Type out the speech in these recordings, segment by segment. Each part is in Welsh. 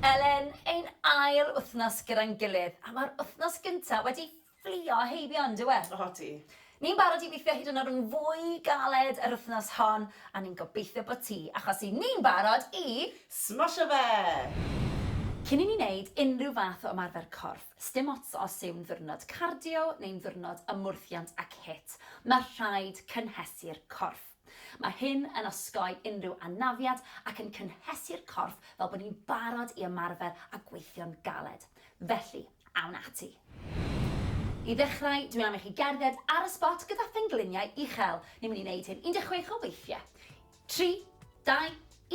Elen, ein ail wythnos gyda'n gilydd, a mae'r wythnos gyntaf wedi fflio heibio, yn dyw e? Odi. Ni'n barod i weithio hyd yn oed yn fwy galed yr wythnos hon, a ni'n gobeithio bod ti, achos i ni'n barod i... Smosio fe! Cyn i ni wneud unrhyw fath o ymarfer corff, sdim ots os yw'n ddiwrnod cardio neu'n ddiwrnod ymwrthiant ac hit, mae rhaid cynhesu'r corff. Mae hyn yn osgoi unrhyw anafiad ac yn cynhesu'r corff fel bod ni'n barod i ymarfer a gweithio'n galed. Felly, awn ati! I ddechrau, dwi am i chi gerdded ar y sbot gyda phengliniau uchel. Ni'n mynd i wneud hyn 16 o weithiau. Tri, dau,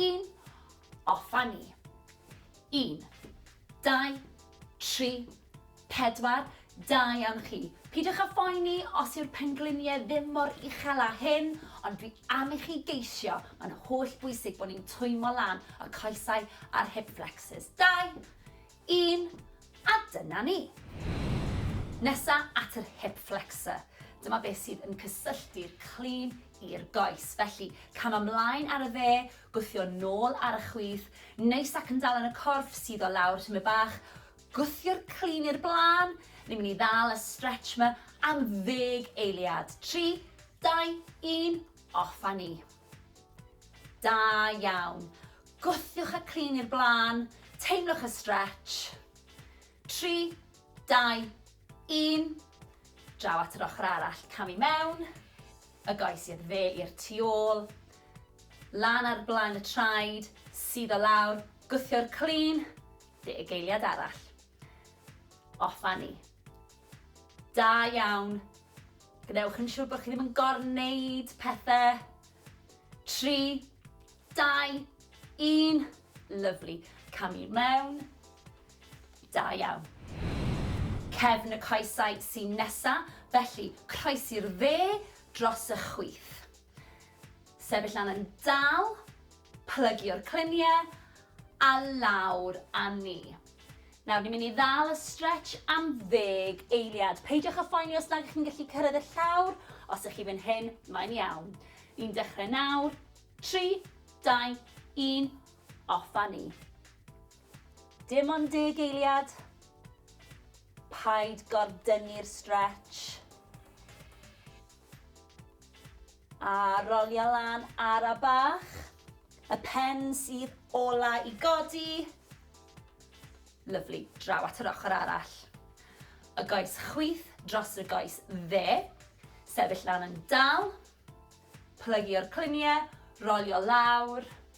un, off a ni! Un, dau, tri, Pedwar, Da iawn chi. Peidiwch â phoeni os yw'r pengliniau ddim mor uchel â hyn, ond dwi am i chi geisio, mae'n holl bwysig bod ni'n twymo lan y coesau a'r hip flexors. Dau, un, a dyna ni. Nesa at yr hip flexor. Dyma beth sydd yn cysylltu'r clean i'r goes. Felly, cam ymlaen ar y dde, gwthio nôl ar y chwith, neis ac yn dal yn y corff, suddo lawr tymed bach, Gwthio'r clun i'r blaen, ni'n mynd i ddal y stretch ma am ddeg eiliad. Tri, dau, un, off a ni. Da iawn. Gwthiwch y clun i'r blaen, teimlwch y stretch. Tri, dau, un. Draw at yr ochr arall, cam i mewn, y goes i'r dde i'r tu ôl, lan ar blaen y traed, sydd o lawr, gwthio'r clun, Fugeiliad arall. Offanni. Da iawn. Gwnewch yn siŵr bod chi ddim yn gorneud pethau. Tri, dau, un. Lyfli. Cam i mewn. Da iawn. Cefn y coesau sy'n nesa, felly croesi'r dde dros y chwith. Sefyll lan yn dal, plygio'r cluniau a lawr â ni. Nawr, ni'n mynd i ddal y stretch am ddeg eiliad. Peidiwch â phoeni os nad ydych chi'n gallu cyrraedd y llawr, os ydych chi fan hyn, mae'n iawn. Ni'n dechrau nawr, 3, 2, 1, off â ni. Dim ond deg eiliad. Paid gordynnu'r stretch. A rolia lan ara bach. Y pen sydd ola i godi. Lyfli, draw at yr ochr arall. Y goes chwith dros y goes dde. Sefyll lan yn dal. Plygio'r cluniau, rolio lawr.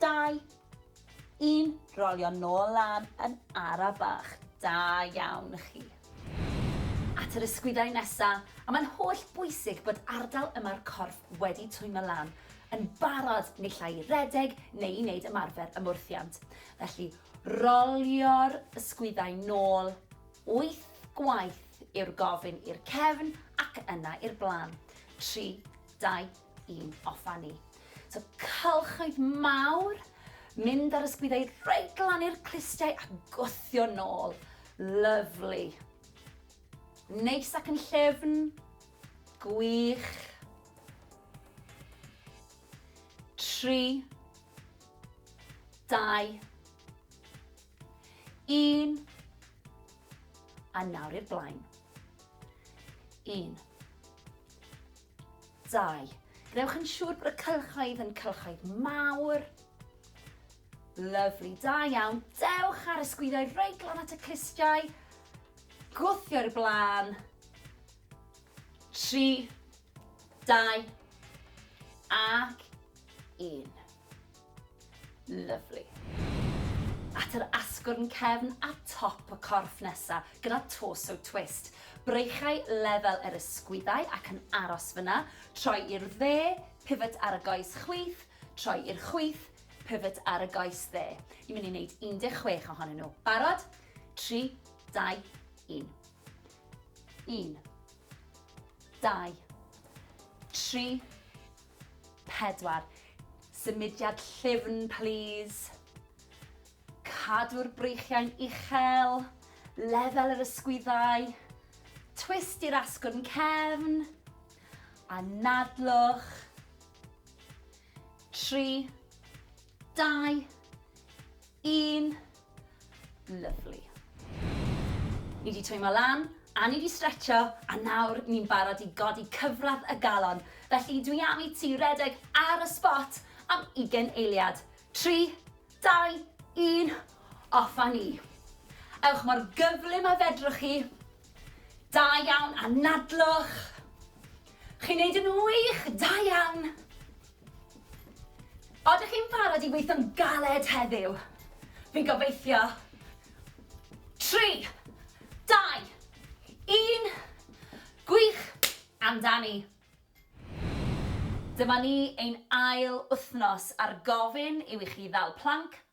Dau. Un. Rolio nôl lan yn ara bach. Da iawn chi. At yr ysgwyddau nesa, a mae'n holl bwysig bod ardal yma'r corff wedi twymo lan, yn barod naill ai i redeg neu i wneud ymarfer ymwrthiant. Felly, rolio'r ysgwyddau nôl, wyth gwaith yw'r gofyn i'r cefn ac yna i'r blaen. Tri, dau, i'n offa ni. So cylchoedd mawr, mynd ar ysgwyddau reit glan i'r clustiau a gwthio nôl. Lyflu. Neis ac yn llefn. Gwych. Tri. Dau. Un. A nawr i'r blaen. Un. 2. Gwnewch yn siŵr bod y cylchoedd yn cylchoedd mawr. Lyfli, da iawn. Dewch ar y sgwyddoedd reit glan at y clustiau. Gwthio i'r blaen. 3, 2, ac 1. Lyfli. At yr asgwrn cefn a top y corff nesa, gyda torso twist. Breichau lefel yr ysgwyddau ac yn aros fyna, troi i'r dde, pivot ar y goes chwith, troi i'r chwith, pivot ar y goes dde. Ni'n mynd i wneud 16 ohonyn nhw. Barod? 3, 2, 1. 1, 2, 3, 4. Symudiad llyfn plîs. Cadw'r breichiau'n uchel, lefel yr ysgwyddau, twist i'r asgwrn cefn, anadlwch. 3. Dau. Un. Lovely. Ni wedi twymo lan, a ni wedi stretcho, a nawr ni'n barod i godi cyfradd y galon. Felly dwi am i ti redeg ar y spot am ugen eiliad. Tri, dau, un, off a ni. Ewch mor gyflym a fedrwch chi. Da iawn, anadlwch. Chi'n neud yn wych, da iawn. Oeddech chi'n barod i weithio'n galed heddiw? Fi'n gobeithio. Tri, dau, un, gwych amdani! Dyma ni, ein ail wythnos ar gofyn yw i chi ddal planc,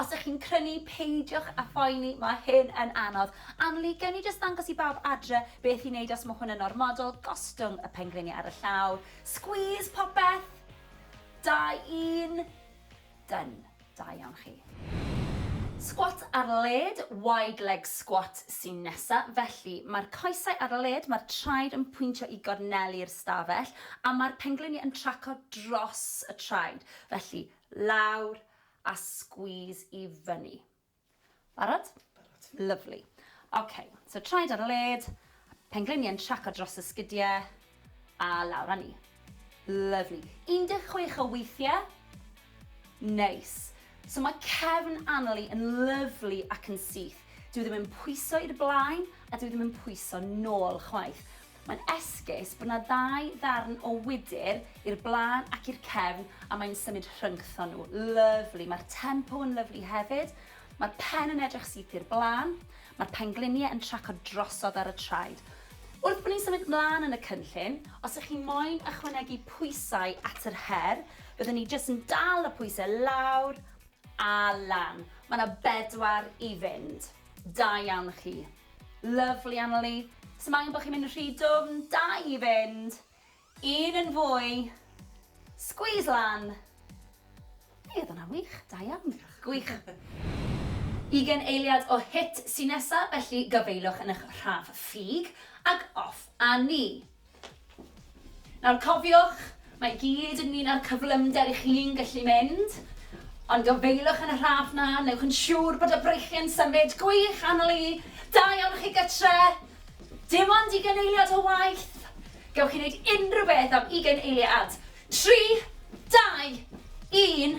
Os ych chi'n crynu, peidiwch â phoeni, mae hyn yn anodd. Anneli, gewn ni jyst ddangos i bawb adre beth i wneud os mae hwn yn ormodol, gostwng y pengliniau ar y llaw, squeeze popeth! Da, un! Done. Da iawn chi. Sgwat ar led, wide leg squat, sy'n nesa. Felly, mae'r coesau ar led, mae'r traed yn pwyntio i gorneli'r stafell, a mae'r pengliniau yn traco dros y traed. Felly, lawr, a squeeze i fyny. Barod? Barod. Lyfli. Ok, so traed ar y led, pengliniau yn traco dros y sgidiau, a lawr â ni. Lyfli. 16 o weithiau. Neis. So mae cefn Annalie yn lyfli ac yn syth. Dwi ddim yn pwyso i'r blaen a dwi ddim yn pwyso nôl chwaith. Mae'n esgus bod 'na ddau ddarn o wydr i'r blaen ac i'r cefn a mae'n symud rhyngthon nhw. Lyfli. Mae'r tempo yn lyfli hefyd. Mae'r pen yn edrych syth i'r blaen. Mae'r pengliniau yn tracio drosodd ar y traed. Wrth bod ni'n symud 'mlaen yn y cynllun, os ych chi moyn ychwanegu pwysau at yr her, byddwn ni jyst yn dal y pwysau lawr a lan. Mae 'na bedwar i fynd. Da iawn chi. Lyfli Annalee. Sdim angen bo' chi'n mynd yn rhy dwfn, da i fynd. Un yn fwy. Squeeze lan. Fe odd wnna'n wych, da iawn. Diolch. Gwych. Ugen eiliad o hit sy nesa, felly gafaelwch yn ych rhaf ffug, ag off a ni. Nawr cofiwch, mae i gyd ynglŷn â'r cyflymder i chi'n gallu mynd, ond gofeilwch yn y rhaff 'na, newch yn siŵr bod y breichiau'n symud gwych annwyl i dau ohonoch chi gytre! Dim ond ugain eiliad o waith! Gewch chi wneud unrhyw beth am ugain eiliad! Tri, dau, un.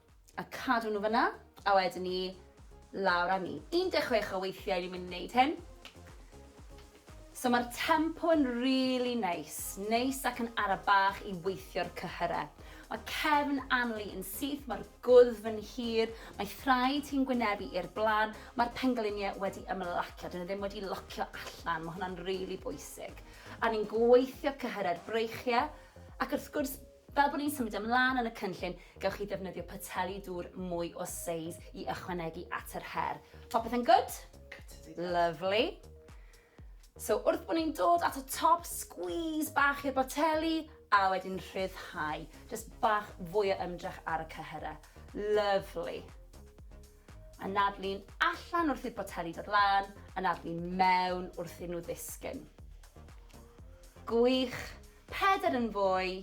A cadw nhw fan'na, a wedyn 'ny lawr â ni. 16 o weithiau ni'n mynd i wneud hyn. So mae'r tempo yn rili neis, neis ac yn ara bach i weithio'r cyhyre. Mae cefn Anli yn syth, mae'r gwddf yn hir, mae thraed hi'n gwynebu i'r blaen, mae'r pengliniau wedi ymlacio, dyn nhw ddim wedi locio allan, mae hwnna'n rili bwysig. A ni'n gweithio cyhyre'r breichiau, ac wrth gwrs Fel bod ni'n symud ymlaen yn y cynllun, gewch chi ddefnyddio poteli dŵr mwy o seis i ychwanegu at yr her. Popeth yn gwd? Gwd ydi dad. Lyfli. So wrth bod ni'n dod at y top, sgwîs bach i'r boteli a wedyn rhyddhau. Jyst bach fwy o ymdrech ar y cyhyrau. Lyfli. Anadlu'n allan wrth i'r boteli dod lan, anadlu'n mewn wrth iddyn nhw ddisgyn. Gwych. Pedair yn fwy.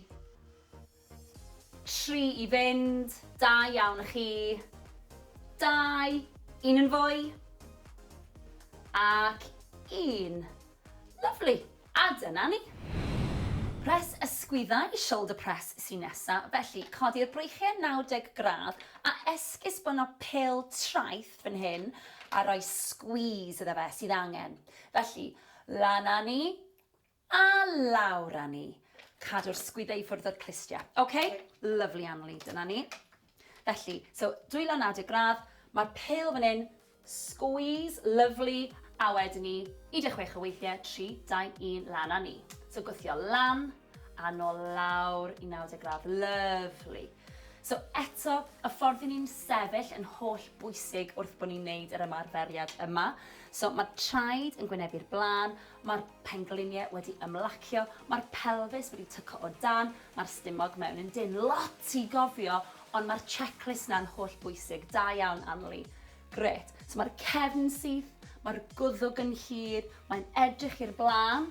Tri i fynd. Da iawn i chi. Dau. Un yn fwy. Ac un. Lyfli. A dyna ni. Press ysgwyddau i shoulder press sy'n nesa, felly codi'r breichiau 90 gradd a esgusbono pêl traeth fan hyn a rhoi squeeze iddo fe sydd angen. Felly, lan â ni a lawr â ni. Cadw'r sgwyddau i ffwrdd o'r clustiau. Ok, lovely Anneli, dyna ni. Felly, so dwylo naw deg gradd, mae'r pêl fan hyn, squeeze, lovely, a wedyn ni, 16 o weithiau, 3, 2, 1, lan a ni. So gwthio lan, a nôl lawr i 90 gradd, lovely. So eto, y ffordd i ni'n sefyll yn holl bwysig wrth bod ni'n neud yr ymarferiad yma. So mae traed yn gwynebu'r blaen, Mae'r pengliniau wedi ymlacio, mae'r pelfis wedi tyco o dan, mae'r stumog mewn yn dynn. Lot i gofio, ond mae'r checklist 'na'n holl bwysig. Da iawn, Anli. Grêt. So mae'r cefn syth, mae'r gwddwg yn hir, mae'n edrych i'r blaen.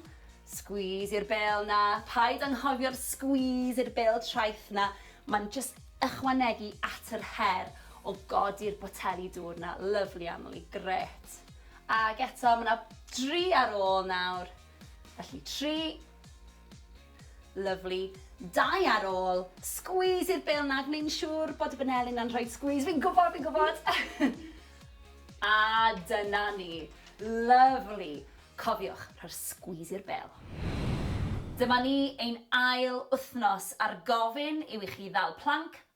Squeeze i'r bêl 'na. Paid anghofio'r squeeze i'r bêl traeth 'na. Mae'n jyst ychwanegu at yr her o godi'r boteli dŵr 'na. Lyfli, Anli. Grêt. Ac eto, mae 'na dri ar ôl nawr. Felly, tri. Lyfli. Dau ar ôl. Sgwîs i'r bêl 'na, gwneud yn siŵr bod y baneli 'na'n rhoi sgwîs. Fi'n gwybod, fi'n gwybod! A dyna ni. Lyfli. Cofiwch, rhoi'r sgwîs i'r bêl. Dyma ni, ein ail wythnos a'r gofyn yw i chi ddal planc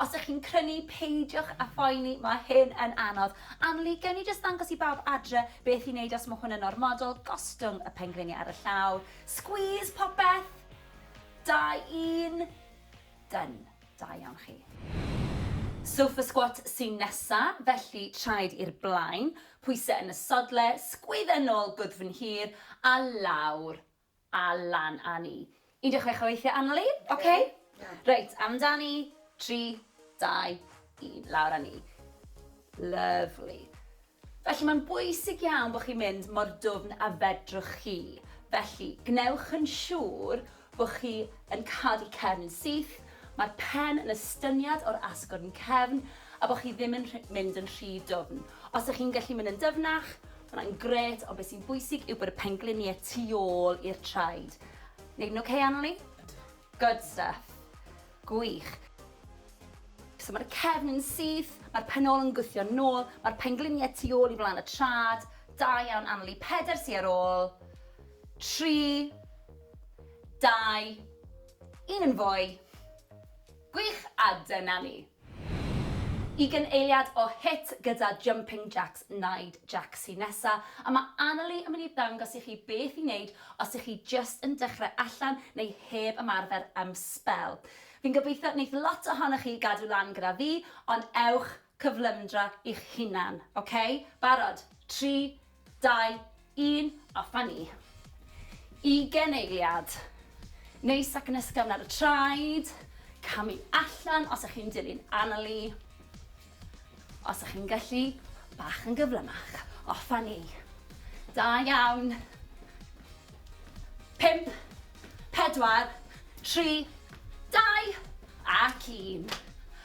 Os ych chi'n crynu, peidiwch â phoeni, mae hyn yn anodd. Anneli, gewn ni jyst ddangos i bawb adre beth i wneud os mae hwn yn ormodol, gostwng y pengliniau ar y llaw, squeeze popeth, da un, done, da iawn chi. Sofa squat sy'n nesa, felly traed i'r blaen, pwysau yn y sodle, sgwydda nôl gwddfn hir a lawr, A lan a ni. 16 o weithiau aml i. Ok. Reit, amdani. 3, 2, 1. Lawr a ni. Lyfli. Felly mae'n bwysig iawn bod chi'n mynd mor dwfn a fedrwch chi. Felly, gwnewch yn siŵr bod chi yn cadw cefn yn syth, mae'r pen yn estyniad o'r asgwrn cefn a bod chi ddim yn mynd yn rhy dwfn. Os ydych chi'n gallu mynd yn dyfnach, Mae hwnna'n gret, ond beth sy'n bwysig yw bod y pengliniau tu ôl i'r traed. Neud yn okay, Anneli? Good stuff. Gwych. So mae'r cefn yn syth, mae'r penol yn gwthio nôl, mae'r pengliniau tu ôl i flaen y trad. Da iawn, Anneli. Peder sy ar ôl. Tri. Dau. Un yn fwy. Gwych, a dyna ni. Ugain eiliad o hit gyda Jumping Jacks Naid Jac sy nesa, a mae Annalee yn mynd i ddangos i chi beth i wneud os ych chi jyst yn dechrau allan neu heb ymarfer am sbel. Fi'n gobeithio wneith lot ohonoch chi gadw lan gyda fi, ond ewch cyflymdra i'ch hunan, ok? Barod? Tri, Dau, un, a fyny. Ugen eiliad. Neis ac yn ysgafn ar y traed. Camu allan os ych chi'n dilyn Annalee. Os ych chi'n gallu, bach yn gyflymach. O, ffynnu. Da iawn. Pimp, pedwar, tri, dau, ac un.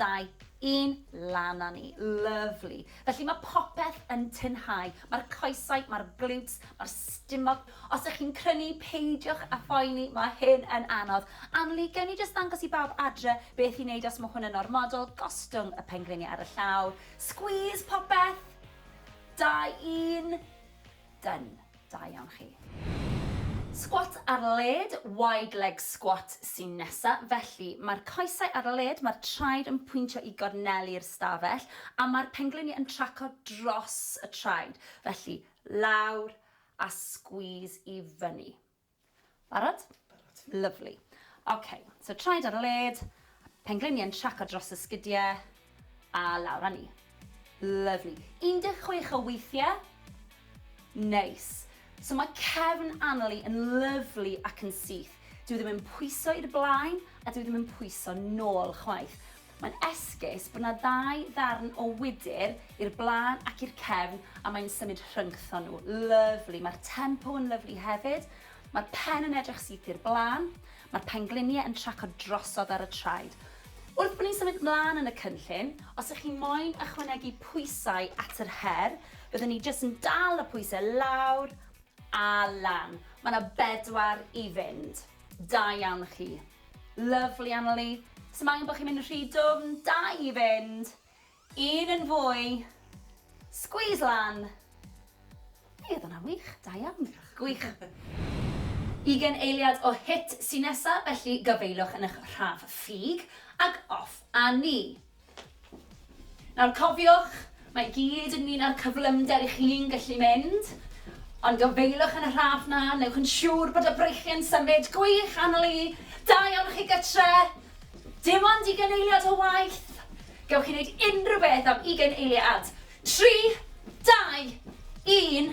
dau, un, lan a ni. Lyfli. Felly mae popeth yn tynhau. Mae'r coesau, mae'r glutes, mae'r stumog. Os ych chi'n crynu, peidiwch a phoeni, mae hyn yn anodd. Anneli, gewn ni jyst ddangos i bawb adre beth i wneud os mae hwn yn ormodol, gostwng y pengliniau ar y llawr, squeeze popeth, dau, un, Done. Da iawn chi. Sgwat ar led, wide leg squat, sy'n nesa. Felly, mae'r coesau ar led, mae'r traed yn pwyntio i gornelu'r stafell, a mae'r pengliniau yn tracio dros y traed. Felly, lawr a squeeze i fyny. Barod? Barod. Lyfli. Ok, so traed ar y led, pengliniau yn traco dros y sgidiau, a lawr â ni. Lyfli. 16 o weithiau. Neis. So mae cefn Annalie yn lyfli ac yn syth. Dyw e ddim yn pwyso i'r blaen a dyw e ddim yn pwyso nôl chwaith. Mae'n esgus bod 'na ddau ddarn o wydr i'r blaen ac i'r cefn a mae'n symud rhyngthon nhw. Lyfli. Mae'r tempo yn lyfli hefyd. Mae'r pen yn edrych syth i'r blaen. Mae'r pengliniau yn tracio drosodd ar y traed. Wrth bod ni'n symud 'mlaen yn y cynllun, os ych chi moyn ychwanegu pwysau at yr her, byddwn ni jyst yn dal y pwysau lawr a lan. Mae 'na bedwar i fynd. Da iawn chi. Lyfli Annalee. Sdim angen bo' chi'n mynd yn rhy dwfn, dau i fynd. Un yn fwy. Squeeze lan. Mi odd wnna'n wych, da iawn. Diolch. Gwych. Ugen eiliad o hit sy nesa, felly gafaelwch yn 'ych rhaf ffug, ag off â ni. Nawr cofiwch, mae i gyd ynglyn â'r cyflymder i chi'n gallu mynd, ond gofeilwch yn y rhaff 'na, newch yn siŵr bod y breichiau'n symud gwych aml i, da iawn i chi gytre! Dim ond ugain eiliad o waith! Gewch chi wneud unrhyw beth am ugain eiliad! Tri, dau, un.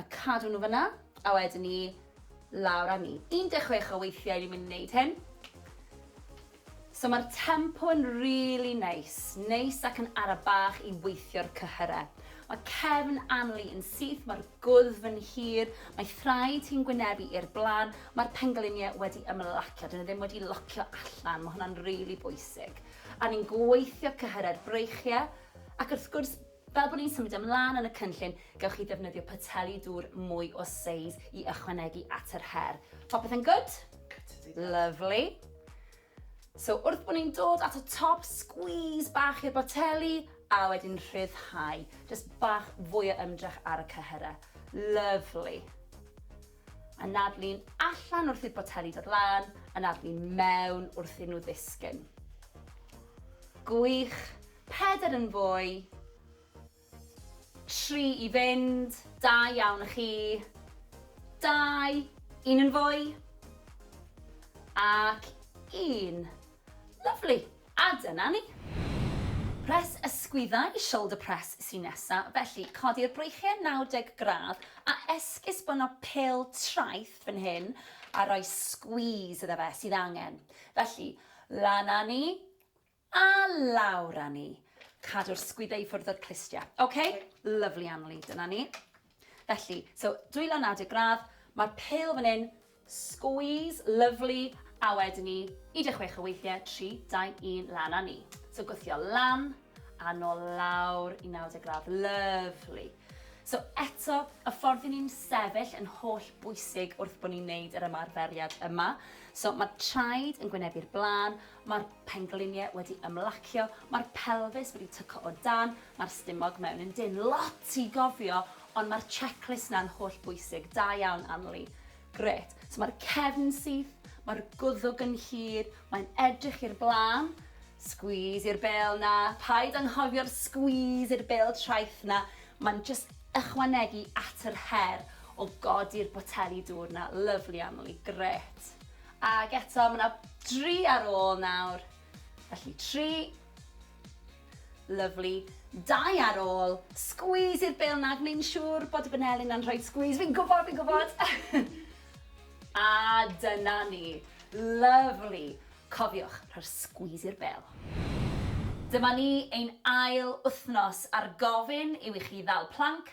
A cadw nhw fan'na, a wedyn 'ny lawr â ni. 16 o weithiau ni'n mynd i wneud hyn. So mae'r tempo yn rili neis, neis ac yn ara bach i weithio'r cyhyre. Mae cefn Anli yn syth, mae'r gwddf yn hir, mae thraed hi'n gwynebu i'r blaen, mae'r pengliniau wedi ymlacio, dyn nhw ddim wedi locio allan, mae hwnna'n rili bwysig. A ni'n gweithio cyhyre'r breichiau, ac wrth gwrs Fel bod ni'n symud ymlaen yn y cynllun, gewch chi ddefnyddio poteli dŵr mwy o seis i ychwanegu at yr her. Popeth yn gwd? Lyfli. So wrth bod ni'n dod at y top, sgwîs bach i'r boteli, a wedyn rhyddhau. Jyst bach fwy o ymdrech ar y cyhyrau. Lyfli. Anadlu'n allan wrth i'r boteli dod lan, anadlu'n mewn wrth iddyn nhw ddisgyn. Gwych. Pedair yn fwy. Tri i fynd. Da iawn i chi. Dau. Un yn fwy. Ac un. Lyfli. A dyna ni. Press ysgwyddau i shoulder press sy'n nesa, felly codi'r breichiau 90 gradd a esgusbono pêl traeth fan hyn a rhoi squeeze iddo fe sydd angen. Felly, lan â ni a lawr â ni. Cadw'r sgwyddau i ffwrdd o'r clustiau. Ok, lovely Anneli, dyna ni. Felly, so dwylo naw-deg gradd, mae'r pêl fan hyn, squeeze, lovely, a wedyn ni, 16 o weithiau, 3, 2, 1, lan a ni. So gwthio lan, a nôl lawr i 90 gradd, lovely. So eto, y ffordd i ni'n sefyll yn holl bwysig wrth bod ni'n neud yr ymarferiad yma. So mae traed yn gwynebu'r blaen, Mae'r pengliniau wedi ymlacio, mae'r pelfis wedi tyco o dan, mae'r stumog mewn yn dynn. Lot i gofio, ond mae'r checklist 'na'n holl bwysig. Da iawn, Anli. Grêt. So mae'r cefn syth, mae'r gwddwg yn hir, mae'n edrych i'r blaen. Squeeze i'r bêl 'na. Paid anghofio'r squeeze i'r bêl traeth 'na. Mae'n jyst ychwanegu at yr her o godi'r boteli dŵr 'na. Lyfli, Anli. Grêt. Ac eto, mae 'na dri ar ôl nawr. Felly, tri. Lyfli. Dau ar ôl. Sgwîs i'r bêl 'na, gwneud yn siŵr bod y baneli 'na'n rhoi sgwîs. Fi'n gwybod, fi'n gwybod! A dyna ni. Lyfli. Cofiwch, rhoi'r sgwîs i'r bêl. Dyma ni, ein ail wythnos a'r gofyn yw i chi ddal planc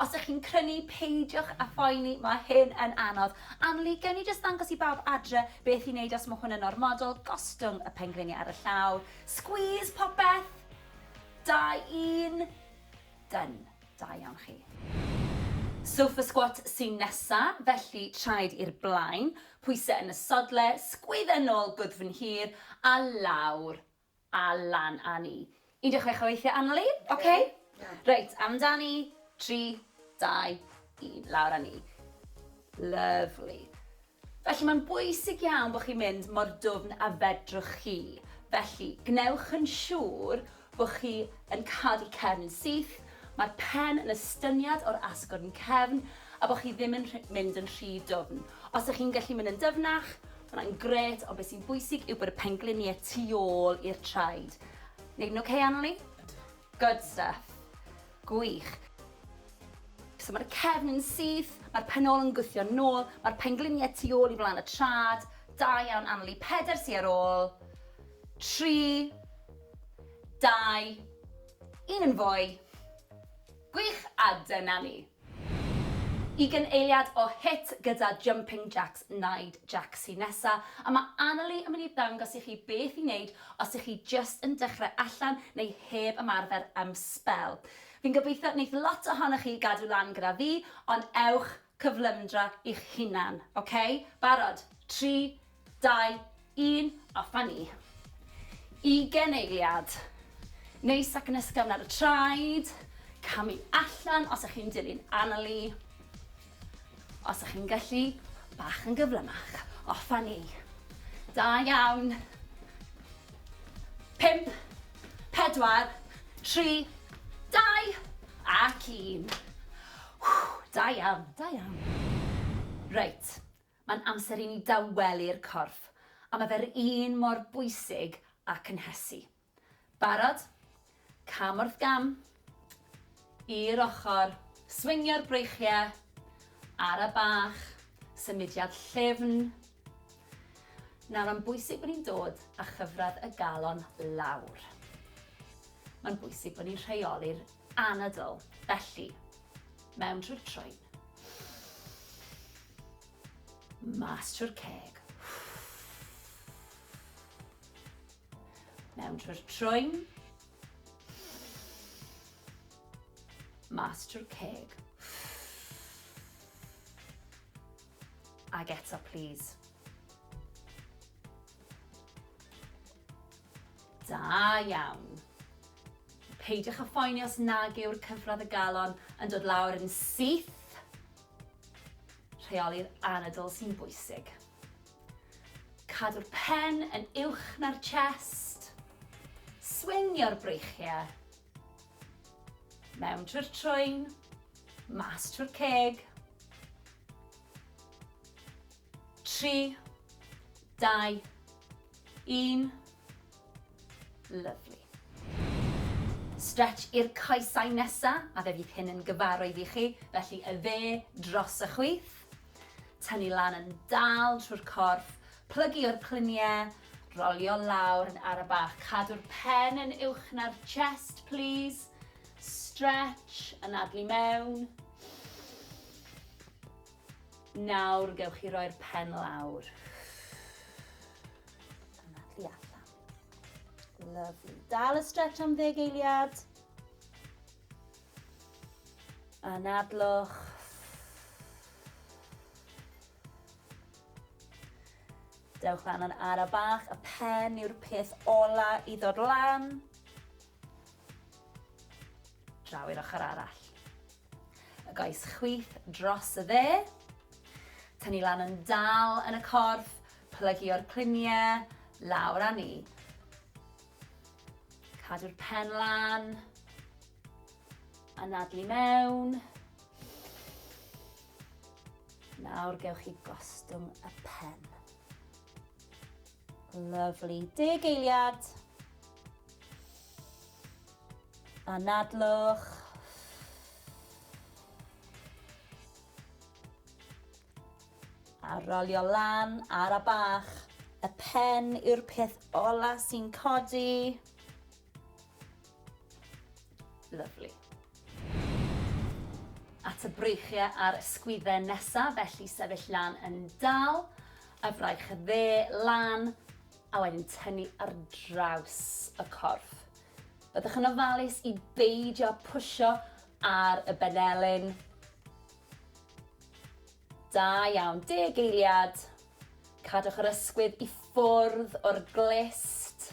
Os ych chi'n crynu, peidiwch â phoeni, mae hyn yn anodd. Anneli, gewn ni jyst ddangos i bawb adre beth i wneud os mae hwn yn ormodol, gostwng y pengliniau ar y llaw, squeeze popeth, da un, done, da iawn chi. Sofa squat sy'n nesa, felly traed i'r blaen, pwysau yn y sodle, sgwydda nôl gwddf yn hir a lawr, A lan a ni. 16 o weithiau aml i. Ok. Reit, amdani. 3, 2, 1. Lawr a ni. Lyfli. Felly mae'n bwysig iawn bod chi'n mynd mor dwfn a fedrwch chi. Felly, gwnewch yn siŵr bod chi yn cadw cefn yn syth, mae'r pen yn estyniad o'r asgwrn cefn a bod chi ddim yn mynd yn rhy dwfn. Os ydych chi'n gallu mynd yn dyfnach, Mae hwnna'n gret, ond beth sy'n bwysig yw bod y pengliniau tu ôl i'r traed. Neud yn okay, Anneli? Good stuff. Gwych. So mae'r cefn yn syth, mae'r penol yn gwthio nôl, mae'r pengliniau tu ôl i flaen y trad. Da iawn, Anneli. Peder sy ar ôl. Tri. Dau. Un yn fwy. Gwych, a dyna ni. Ugain eiliad o hit gyda Jumping Jacks Naid Jac sy nesa, a mae Annalee yn mynd i ddangos i chi beth i wneud os ych chi jyst yn dechrau allan neu heb ymarfer am sbel. Fi'n gobeithio wneith lot ohonoch chi gadw lan gyda fi, ond ewch cyflymdra i'ch hunan, ok? Barod? Tri, Dau, un, off a ni. Ugen eiliad. Neis ac yn ysgafn ar y traed. Camu allan os ych chi'n dilyn Annalee. Os ych chi'n gallu, bach yn gyflymach. Off a ni. Da iawn. Pimp, pedwar, tri, dau, ac un. Da iawn, da iawn. Reit. Mae'n amser i ni dawelu'r corff, a mae fe'r un mor bwysig â cynhesu. Barod? Cam wrth gam. I'r ochr. Swingio'r breichiau. Ara bach. Symudiad llyfn. Nawr, mae'n bwysig bod ni'n dod â chyfradd y galon lawr. Mae'n bwysig bod ni'n rheoli'r anadl, felly, mewn trwy'r troed. Mas trwy'r ceg. Mewn trwy'r troen. Mas trwy'r ceg. Ag eto, please. Da iawn. Peidiwch â phoeni os nag yw'r cyfradd y galon yn dod lawr yn syth. Rheoli'r anadl sy'n bwysig. Cadw'r pen yn uwch na'r chest. Swingio'r breichiau. Mewn trwy'r trwyn, mas trwy'r ceg. 3, 2, 1. Lyfli. Stretch i'r coesau nesa, a fe fydd hyn yn gyfarwydd i chi, felly y dde dros y chwith. Tynnu lan yn dal trwy'r corff, plygu o'r clunie, rolio lawr yn ara bach. Cadw'r pen yn uwch na'r chest, plîs. Stretch, anadlu mewn. Nawr gewch chi roi'r pen lawr. Yna, tu allan. Lovely. Dal y stretch am ddeg eiliad. Anadlwch. Dewch lan yn ara bach, y pen yw'r peth ola i ddod lan. Draw i'r ochr arall. Y goes chwith dros y dde. Tynnu lan yn dal yn y corff, plygio'r cliniau, lawr â ni. Cadw'r pen lan. Anadlu mewn. Nawr gewch chi gostwng y pen. Lyfli. Deg eiliad. Anadlwch. A rolio lan ar a bach. Y pen yw'r peth ola sy'n codi. Lyfli. At y breichiau a'r ysgwydden nesaf, felly sefyll lan yn dal, y fraich dde lan, a wedyn tynnu ar draws y corff. Byddwch yn ofalus i beidio pwysio ar y benelin. Da iawn, deg eiliad. Cadwch yr ysgwydd i ffwrdd o'r glist.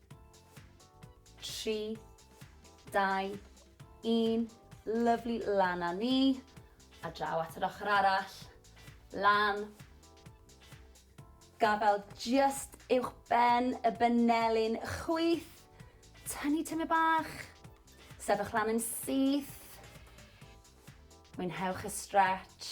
3, 2, 1, lyfli, lan a ni, a draw at yr ochr arall, lan, gafael just uwch ben y benelin, chwyth, tynnu tyme bach, sefych lan yn syth, mwynhewch y stretch,